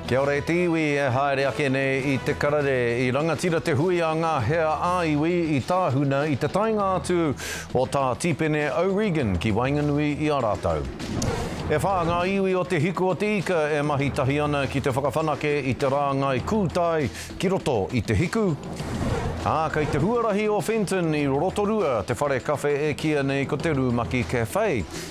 Kia ora e te iwi e haere ake nei i te karere i rangatira te hui a nga hea a iwi i Tahuna i te taenga atu o ta Tipene O'Regan ki waenganui i a ratou e wha nga iwi o te hiku o te ika e mahi tahi ana ki te whakawhanake i te rangai kūtai ki roto i te hiku a kei te huarahi o Fenton i Rorotorua te whare kawhe e kia nei ko te Rumaki Cafe.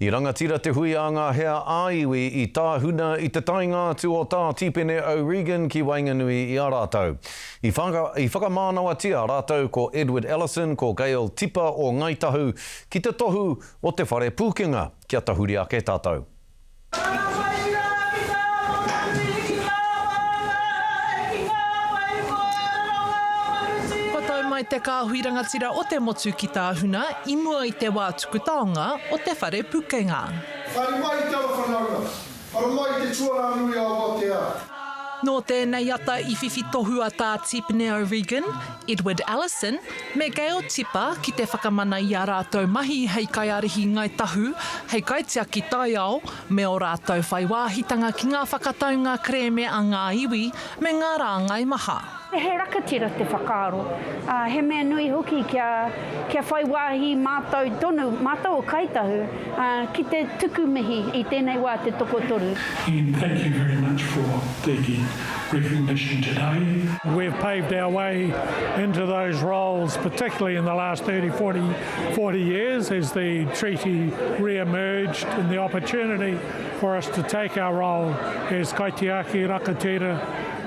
I rangatira te hui a ngā hea ā-iwi i Tāhuna i te taenga atu o tā Tīpene O'Regan ki waenganui i a rātou. I whaka, i whakamānawatia rātou ko Edward Ellison, ko Gail Tipa o Ngāi Tahu ki te tohu o te whare pūkenga, kia tahuri ake tātou. Ka whai rawa ki ngā manuhiri, ki ngā māngai, ki ngā whai koara nō ngā manuhiri. Kua tau mai te kāhui rangatira o te motu ki Tāhuna i mua i te wā Putaonga o te Whare Pukenga. Haere mai i te ara whanaunga. Ara mai i te tuarā nui a Awatea. Nō tēnei ata i whiwhi tohu a Tā Tipene O'Regan, Edward Ellison, me Gail Tipa ki te whakamana i ā rātou mahi hei kaiārahi Ngāi Tahu, hei kaitiaki taiao, me ō rātou whai wāhitanga ki ngā whakataunga kerēme a ngā iwi me ngā rāngai maha. He rakatira te whakaaro, ā, he mea nui hoki kia, kia whai wāhi mātou tonu, mātou o Kāi Tahu, ā, ki te tuku mihi i tēnei wā te tokotoru. Ian thank you very much for the recognition today. We've paved our way into those roles, particularly in the last thirty, forty. 40 years as the treaty re-emerged and the opportunity for us to take our role as kaitiaki rakatira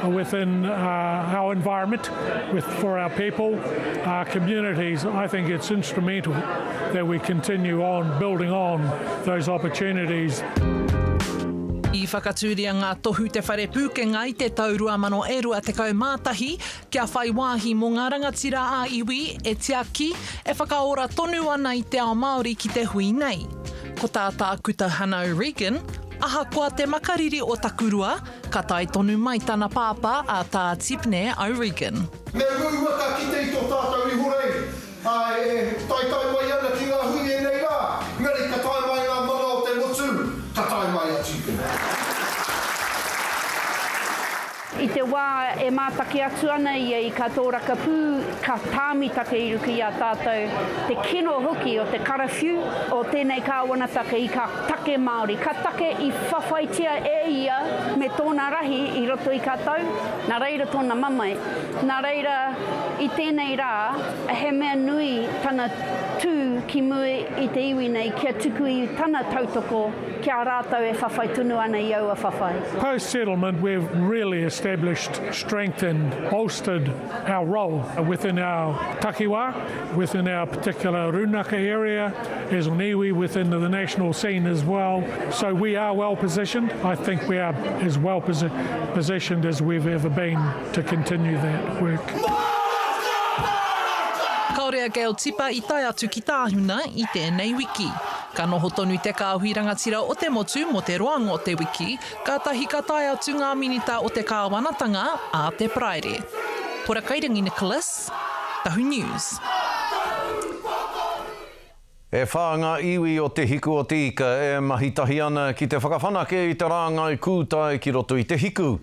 within uh, our environment with, for our people, our communities. I think it's instrumental that we continue on building on those opportunities. I whakatūria ngā tohu Te Whare Pūkenga i te tau 2021, Kia whai wāhi mō ngā rangatira ā-iwi e tiaki, e whakaora tonu ana i te ao Māori ki te hui nei. Ko tā Tākuta Hannah O'Regan, Ahakoa te makariri o Takurua, ka tae tonu mai tana pāpā a Tā Tibneh O'Regan. Me huhua ka kite i tō tātou ihorei. Ā, e taetae mai ana ki ngā hui ēnei rā, engari ka tae mai ngā mana o te motu, ka tae mai a Tīpuna. I te wā e mātaki atu ana ia i kā tōraka pū, ka tāmita te iruka i a tātou, te kino hoki o te karawhiu o tēnei kāwanataka i kā take Māori, kā take i whawhaitia e ia me tōna rahi i roto i kā tau, nā reira tōna mamae. Nā reira, i tēnei rā, he mea nui tana tū ki muri i te iwi nei kia tuku i tana tautoko ki a rātou e whawhai tonu ana i aua whawhai. Post settlement we've really established, strengthened, bolstered our role within our takiwā, within our particular rūnaka area, as an iwi within the national scene as well. So we are well positioned. I think we are as well positioned as we've ever been to continue that work. Kaore a Gail Tipa i tae atu ki Tahuna i tēnei wiki. Ka noho tonu te kāhui rangatira o te motu mo te roanga o te wiki, Kātahi ka tae atu ngā Minita o te Kāwanatanga ā te Paraire. Kora Kairangi Nicholas, Tahu News. E whā ngā iwi o Te Hiku o Te Ika e mahi tahi ana ki te whakawhanake i te rāngai kūtai ki roto i te hiku.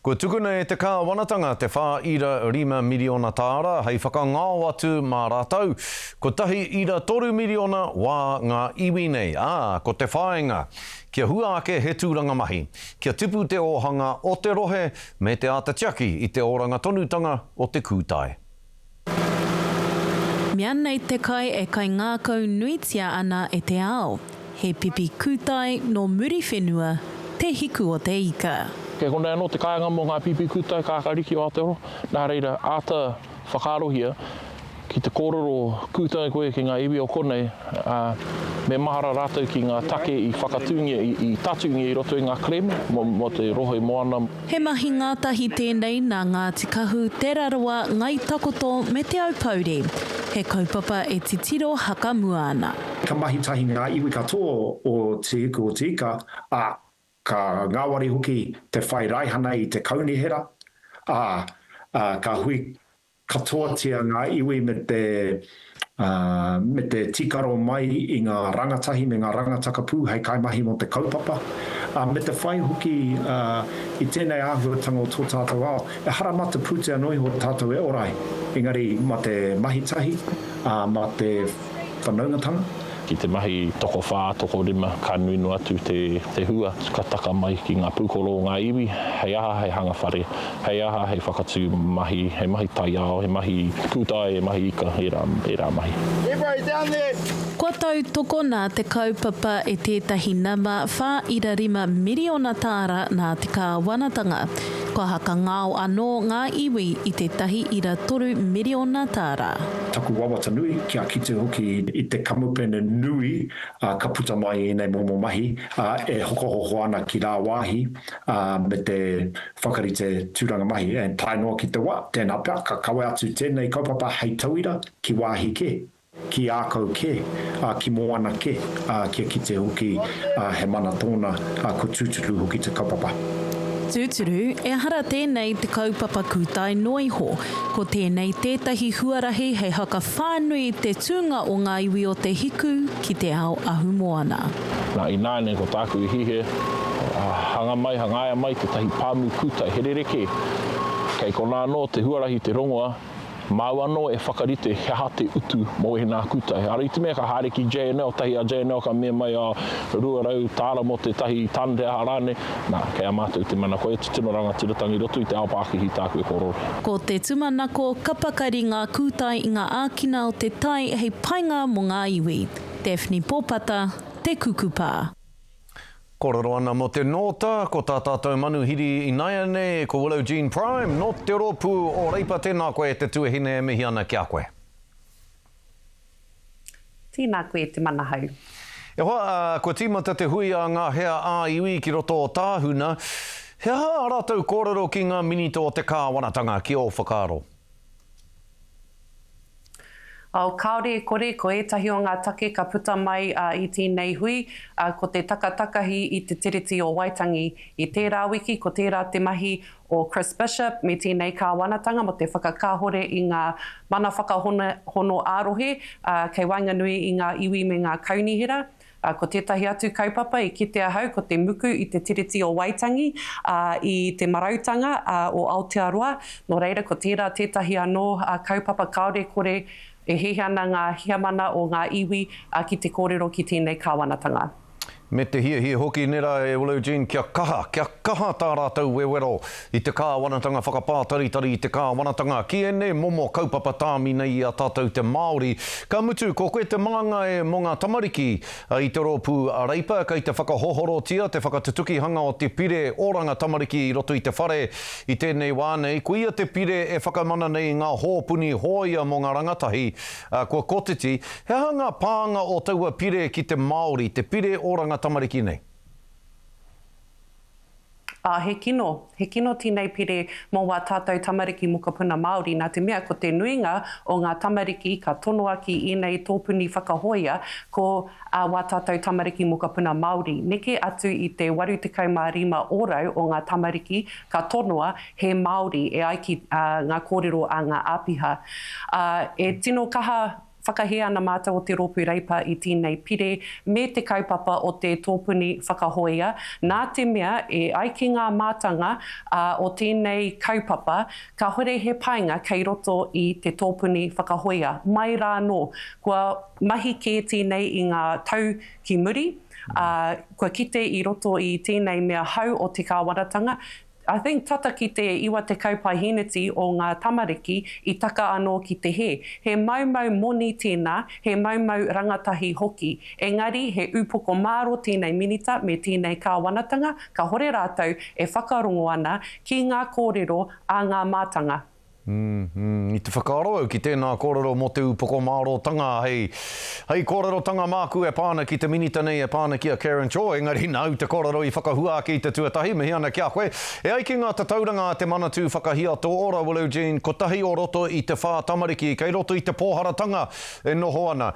Kua tukuna e te Kāwanatanga te whā ira rima miriona tāra hei whakangao atu mā rātou. Kotahi ira toru miriona wā ngā iwi nei, ā, ko te whāinga, Kia hua ake he tūranga mahi, kia tipu te ōhanga o te rohe me te āta tiaki i te oranga tonutanga o te kūtai. Mea nei te kai e kaingākau nuitia ana e te ao, he pipi kūtai nō Muriwhenua te hiku o te ika. Kei konei anō te kāinga mō ngā pipi kūtai kākāriki o Aotearoa, nā reira, āta Whakaarohia, ki te kōrero pūtau koe ki ngā iwi o konei, ā, me mahara rātou ki ngā take i whakatūngia, i tatūngia i roto i ngā kerēme mō te rohe moana. He mahi ngātahi tēnei nā Ngāti Kahu, Te Rarawa, Ngai Takoto me Te Aupōuri. He kaupapa e titiro hakamua ana. Ka mahi tahi ngā iwi katoa o Te Ika o Te Ika, ā, Ka ngāwari hoki te whai raihana i te kaunihera, ā, ka hui katoatia ngā iwi me te, ā, me te tīkaro mai i ngā rangatahi me ngā rangataka pū hei kaimahi mō te kaupapa, ā, me te whai hoki, ā, i tēnei āhuatanga o tō tātou ao, ehara mā te pūtea nō iho tātou e ora ai, engari mā te mahitahi, ā, mā te whanaungatanga, Ki te mahi tokowhā, tokorima, ka nui noa atu te hua, ka taka mai ki ngā pūkoro o ngā iwi, hei aha hei hanga whare, hei aha hei whakatū mahi, he mahi taiao, he mahi kūtai, he mahi ika, ērā mahi. Kua tautokona te kaupapa e tētahi nama whā ira rima miriona tāra nā te kāwanatanga. Kua hakangao anō ngā iwi i tētahi ira toru miriona tāra. taku wawata nui, kia kite hoki i te kamupene nui ka puta mai i ēnei momo mahi e hokohoko ana ki rāwāhi me te whakarite tūranga mahi. And tae noa ki te wa, tēnā pea, ka kawe atu tēnei kaupapa hei tauira ki wāhi kē, ki ākau kē, ki moana kē, kia kite hoki he mana tōna, kua tūturu hoki te kaupapa. Tūturu, ehara tēnei te kaupapa kūtai noa iho, Ko tēnei tētahi huarahi hei whakawhānui i te tūnga o ngā iwi o Te Hiku ki te ao ahumoana. Nā, ināianei ko tāku i hīhē, hanga mai, hangaia mai tētahi pāmu kūtai here reke. Kei konā anō te huarahi te rongoa, māu anō e whakarite he aha te utu mō ēnā kūtai. Ara i te mea ka haere ki JNL, tahi a JNL ka mea mai, oh, rua rau tāra mō tētahi tonne, he aha rānei. Nā, kei a mātou i te mana koe e tutuno rangatiratanga i roto i te ao pākihi tāku e korore. Ko te tumanako ka pakari ngā kūtai i ngā ākina o te tai hei painga mō ngā iwi. Daphne Popata, Te Kukupā. Kōrero ana mō te nōta, ko tā tātou manuhiri inaianei ko Willow Jean Prime nō te rōpū o Reipa tēnā koe te tuahine e mihi ana ki a koe. Tēnā koe te mana hau. E hoa, kua tīmata te hui a ngā hea ā-iwi ki roto o Tāhuna. He aha ā rātou kōrero ki ngā Minita o te Kāwanatanga, ki ō whakaaro? Oh, kāore e kore, ko ētahi o ngā take ka puta mai i tēnei hui, ko te takatakahi i te Tiriti o Waitangi. I tērā wiki, ko tērā te mahi o Chris Bishop me tēnei kāwanatanga mō te whakakāhore i ngā mana whakahono ā-rohe kei waenganui i ngā iwi me ngā kaunihera. Ko tētahi atu kaupapa i kite ahau ko te muku i te Tiriti o Waitangi i Te Marautanga o Aotearoa, nō reira ko tērā tētahi anō kaupapa kāore kore e hihi ana ngā heamana o ngā iwi ki te kōrero ki tēnei kāwanatanga. Me te hiahia hoki nera e Willow Jean kia kaha, kia kaha tā rātou wewero i te Kāwanatanga whakapātaritari i te Kāwanatanga ki ēnei momo kaupapa tāmi nei i a tātou te Māori. Ka mutu, ko koe te māngai mō ngā tamariki i te rōpū a Reipa, kei te whakahohorotia te whakatutukihanga o te pire oranga tamariki i roto i te whare. I tēnei wā nei, koia te pire e whakamana nei i ngā hōpuni hōia mō ngā rangatahi Ā, kua kotiti, he aha ngā pānga o taua pire ki te Māori, te pire oranga tamariki nei? Ā, he kino, he kino tēnei pire mō wā tātou tamariki mokopuna Māori, nā te mea ko te nuinga o ngā tamariki ka tonoa ki ēnei tōpuni whakahōia ko ā wā tātou tamariki mokopuna Māori. Neke atu i te 85 ōrau o ngā tamariki ka tonoa he Māori e ai ki ngā kōrero a ngā āpiha. Ā, e tino kaha whakahē ana mātou o Te Rōpū Reipa i tēnei pire me te kaupapa o te tōpuni whakahōia, nā te mea e ai ki ngā mātanga o tēnei kaupapa, kāhore he painga kei roto i te tōpuni whakahōia. Mai rā anō, kua mahi kē tēnei i ngā tau ki muri, ā, kua kite i roto i tēnei mea hau o te kāwanatanga, I think tata ki te 90 paehēneti o ngā tamariki i taka anō ki te hē. He maumau moni tēnā, he maumau rangatahi hoki. Engari he upoko māro tēnei Minita me tēnei Kāwanatanga, kahore rātou e whakarongo ana ki ngā kōrero a ngā mātanga. Umm, i te whakaaro au ki tēnā kōrero mō te upoko mārōtanga hei, hei kōrerotanga māku e pā ana ki te Minita nei, e pā ana ki a Karen Chou, engari nāu te kōrero i whakahua ake i te tuatahi, mihi ana ki a koe. E ai ki ngā tatauranga a Te Manatū Whakahiato Ora, Willow Jean, kotahi o roto i te whā tamariki kei roto i te pōharatanga e noho ana.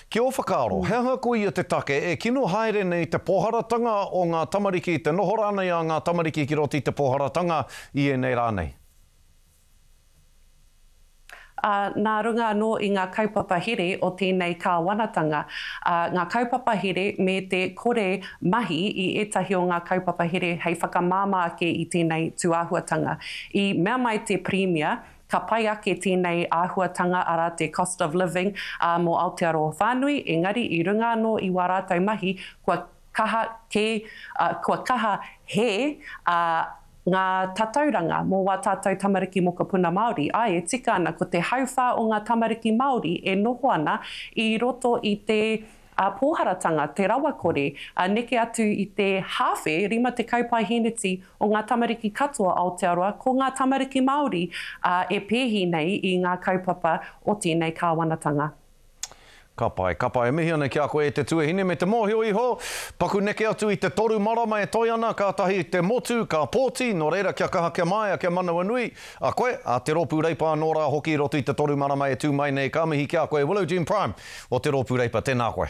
Ki ō whakaaro, he aha ko ia te take e kino haere nei te pōharatanga o ngā tamariki, te noho rānei a ngā tamariki ki roto i te pōharatanga i ēnei rā nei? ā, nā runga anō i ngā kaupapa here o tēnei kāwanatanga, ā, ngā kaupapa here me te kore mahi i ētahi o ngā kaupapa here hei whakamāmā ake i tēnei tūāhuatanga. I mea mai te Pirimia, ka pai ake tēnei āhuatanga, arā, te cost of living, ā, mō Aotearoa whānui, engari i runga anō i wā rātou mahi, kua. Kaha kē, ā, kua kaha hē, ā, ngā tatauranga mō wā tātou tamariki mokopuna Māori. Āe, e tika ana, ko te hauwhā o ngā tamariki Māori e noho ana i roto i te, ā, pōharatanga, te rawakore, ā, neke atu i te hāwhe, 50 paeheneti o ngā tamariki katoa Aotearoa, ko ngā tamariki Māori, ā, e pēhi nei i ngā kaupapa o tēnei kāwanatanga. Ka pai, ka pai. E mihi ana ki a koe e te tuahine me te mōhio iho. Paku neke atu i te toru marama e toe ana, kātahi te motu, ka pōti, nō reira kia kaha kia māia, kia manawanui. A koe, a te Rōpū Reipa anō rā hoki i roto i te toru marama e tū mai nei, ka mihi ki a koe Willow Jean Prime o te Rōpū Reipa, tēnā koe.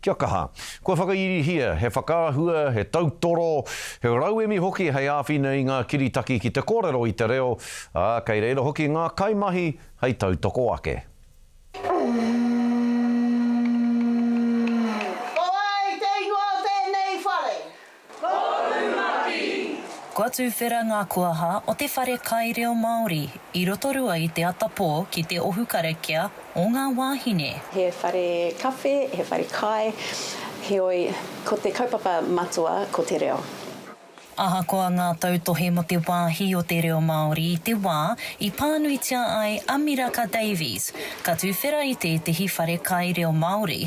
Kia kaha. Kua whakairihia he whakaahua, he tautoro, he rauemi hoki hei āwhina i ngā kiritaki ki te kōrero i te reo, ā, kei reira hoki ngā kaimahi hei tautoko ake. Ko wai te ingoa o tēnei whare? Kua tuwhera ngā kuaha o te whare kai reo Māori i Rotorua i te atapō ki te ohu karakia o ngā wāhine. He whare kawhe, he whare kai, heoi, ko te kaupapa matua ko te reo. Ahakoa ngā tautohe mō te wāhi o te reo Māori i te wā i pānuitia ai a Miraka Davies, ka tuwhera i tētehi whare kai reo Māori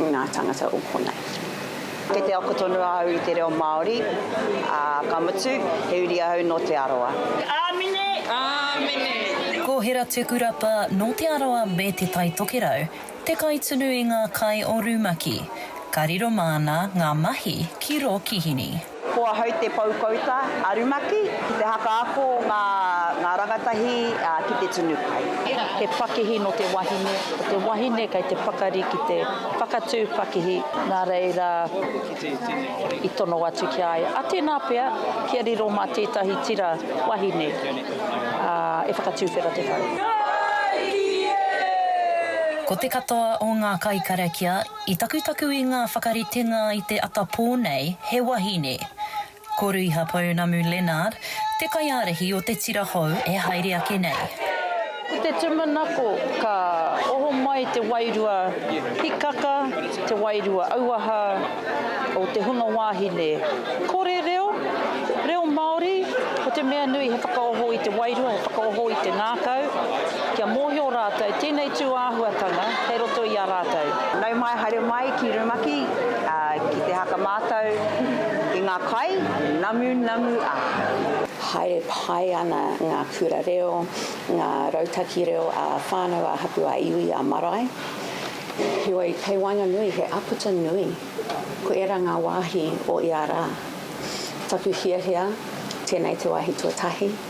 ngā tāngata o konei. Kei te ako tonu ahau i te reo Māori, ā, ka mutu, he uri ahau nō Te Arawa. Āmine! Āmine! Ko Hera Tukurapa nō Te Arawa me Te Tai Tokerau te kaitunu i ngā kai o Rumaki. Ka riro māna ngā mahi ki rō Kihini. Ko ahau te poukouta a rumaki ki te haka ako ngā rangatahi ki te tunu kai. He pakihi nō te wahine, ko te wahine kei te pakari ki te whakatū pakihi. Nā reira, i tono atu ki a ia, a tēnā pea, kia riro mā tētahi tira wahine e whakatūwhera te whare. Ko te katoa o ngā kai karakia I takutaku i ngā whakaritenga i te atapō nei he wahine. Ko Ruiha Pounamu Leonard te kaiārahi o te tira hou e haere ake nei. Ko te tumanako ka oho mai te wairua hikaka, te wairua auaha o te hunga wāhine. Kore reo, reo Māori, ko te mea nui he whakaoho i te wairua, he whakaoho i te ngākau kia mōhio rātou tēnei tūāhuatanga. kei roto i a rātou. Nau mai, haere mai ki rumaki, ki te haka mātou i ngā kai, namu, namu a. Haere pai ana ngā kura reo, ngā rautaki reo a whānau, a hapu, a iwi, a marae. Heoi, kei waenganui he aputa nui, ko ērā ngā wāhi o ia rā. Taku hiahia, tēnei te wāhi tuatahi.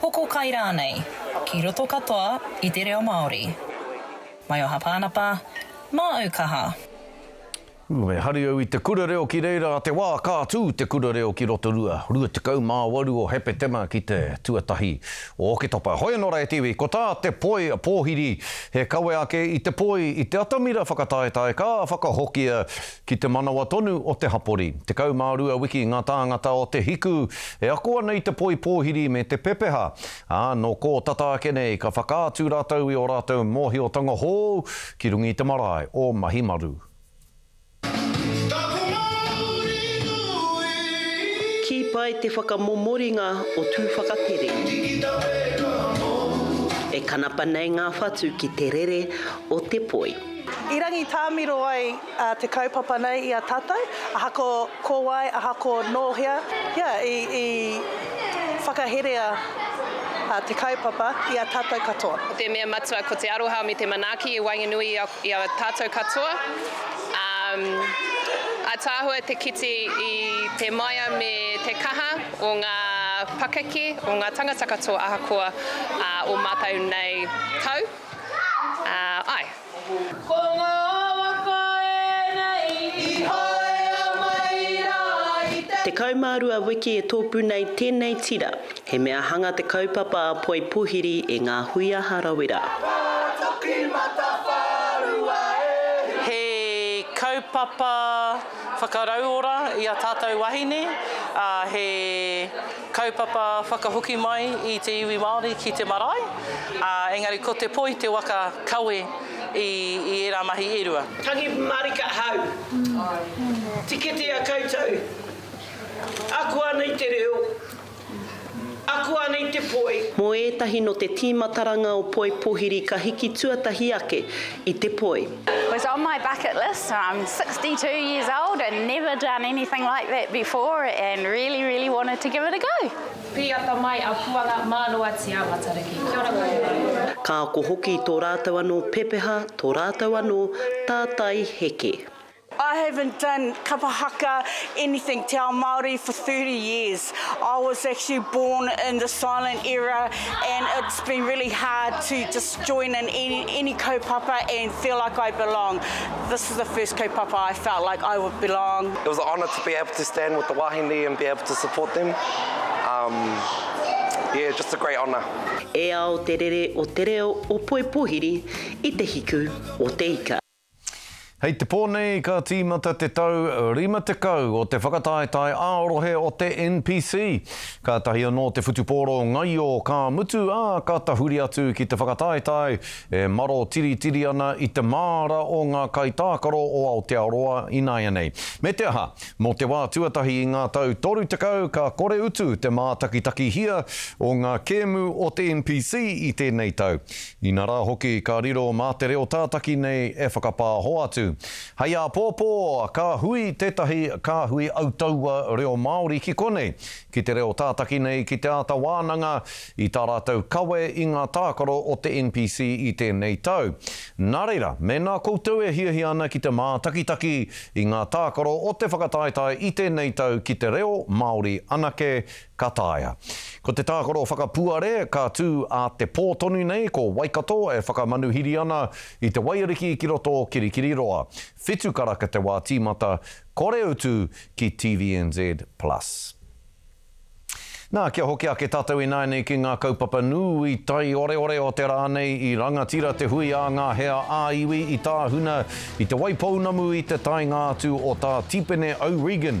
Hoko kai rānei, ki roto katoa i te reo Māori. Maioha Pānapa, māu kaha. Ū, me hari au i te kura reo ki reira a te wā ka tū te kura reo ki Rotorua, 28 o Hepetema ki te tuatahi o Oketopa. Hoi anō rā e te iwi, ko tā te poi pōhiri he kawe ake i te poi i te atamira whakataetae ka whakahokia Ki te manawa tonu o te hapori. Tekau mā rua wiki ngā tāngata o Te Hiku e ako ana i te poi pōhiri me te pepeha, ā, nō kō tata ake nei ka whakaatu rātou i ō rātou mōhiotanga hou ki runga i te marae o Mahimaru. Kī pai te whakamomoringa o Tūwhakatere. E kanapa nei ngā whatu ki te rere o te poi. I rangitāmiro ai te kaupapa nei i a tatou, aha ko ko wai, aha ko no hea, ia i i whakaherea te kaupapa i a tatou katoa. Ko te mea matua ko te aroha me te manaaki i waenganui i a i a tatou katoa, a ataahua te kite i te maia me te kaha o nga pakeke o nga tangata katoa ahakoa o matou nei tau, a ai. Ko ngā waka ēnei i haea mai rā i te. Tekau mā rua wiki e tōpū nei tēnei tira. He mea hanga te kaupapa a Poi Pohiri e ngā hui a Harawira. Wā toki matawhārua e hia. He kaupapa whakarauora i a tātou wahine, ā, he. Kaupapa whakahoki mai i te iwi Māori ki te marae, ā, engari ko te poi te waka kawe i ērā mahi e rua. Tangi marika hau. Tiketea koutou. Ako ana i te reo. Ako ana i te poi. Mō ētahi nō te tīmataranga o Poi Pohiri ka hiki tuatahi ake i te poi. was on my bucket list and I'm 62 years old and never done anything like that before and really really wanted to give it a go. Pīata mai a Puanga Mānoatia Matariki. Kia ora koutou. Ka ako hoki tō rātou anō pepeha, tō rātou anō tātai heke. I haven't done kapa haka anything te ao Māori for thirty years. I was actually born in the silent era and it's been really hard to just join in any any kaupapa and feel like I belong. This is the first kaupapa I felt like I would belong. It was a honour to be able to stand with the wāhine and be able to support them. Um, yeah, just a great honour. E ao te rere o te reo o Poipohiri i te hiku o te ika. Hei te pō nei ka tīmata te tau 50 o te whakataetae ā-rohe o te NPC. Kātahi anō te whutupōro ngaio ka mutu, ā, ka tahuri atu ki te whakataetae e maro tiritiri ana i te māra o ngā kaitākaro o Aotearoa ināianei. Me te aha, mō te wā tuatahi i ngā tau 30 ka kore utu te mātakitakihia o ngā kēmu o te NPC i tēnei tau. Inarā hoki ka riro mā te reo tātaki nei e whakapāho atu. Hei āpōpō, ka hui tētahi kāhui autaua reo Māori ki konei, ki te reo tātaki nei ki te āta wānanga i tā rātou kawe i ngā tākaro o te NPC i tēnei tau. Nā reira, mēnā koutou e hiahia ana ki te mātakitaki i ngā tākaro o te whakataetae i tēnei tau ki te reo Māori anake, Ka taea. Ko te tākaro whakapuare, ka tū ā te pō tonu nei ko Waikato e whakamanuhiri ana i te waiariki ki roto o Kirikiriroa. Whitu karaka te wā tīmata, kore utu ki TVNZ Plus. Nā, kia hoki ake tātou ināianei ki ngā kaupapa nūi taioreore o te rā nei i rangatira te hui a ngā hea ā-iwi i Tāhuna, i Te Waipounamu i te taenga atu o tā Tipene O'Regan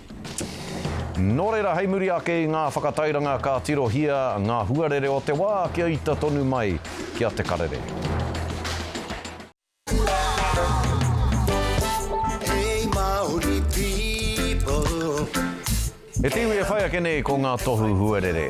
Nō reira, hei muri ake i ngā whakatairanga ka tirohia ngā huarere o te wā kia ita tonu mai ki a Te Karere. He te iwi e whai ake nei ko ngā tohu huarere.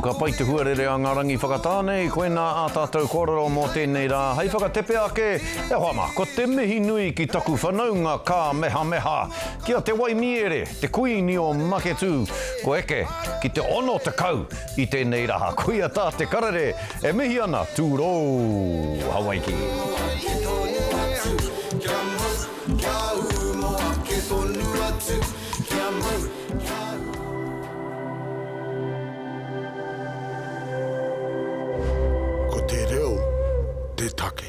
Ka pai te huarere a nga rangi whakatā nei, koina a tatou korero mo tenei ra. Hei whakatepe ake, e hoa ma, ko te mihi nui ki taku whanaunga ka mehameha. Ki a Te Waimiere. Te Kuini o Maketū, kua eke ki te ono tekau i tēnei rā. Koia tā te karere e mihi ana, tūrou! Hawaiki! Moake tonu atu, kia mau, kia ū Moake tonu atu, kia mau, kia ū. Ko te reo te take.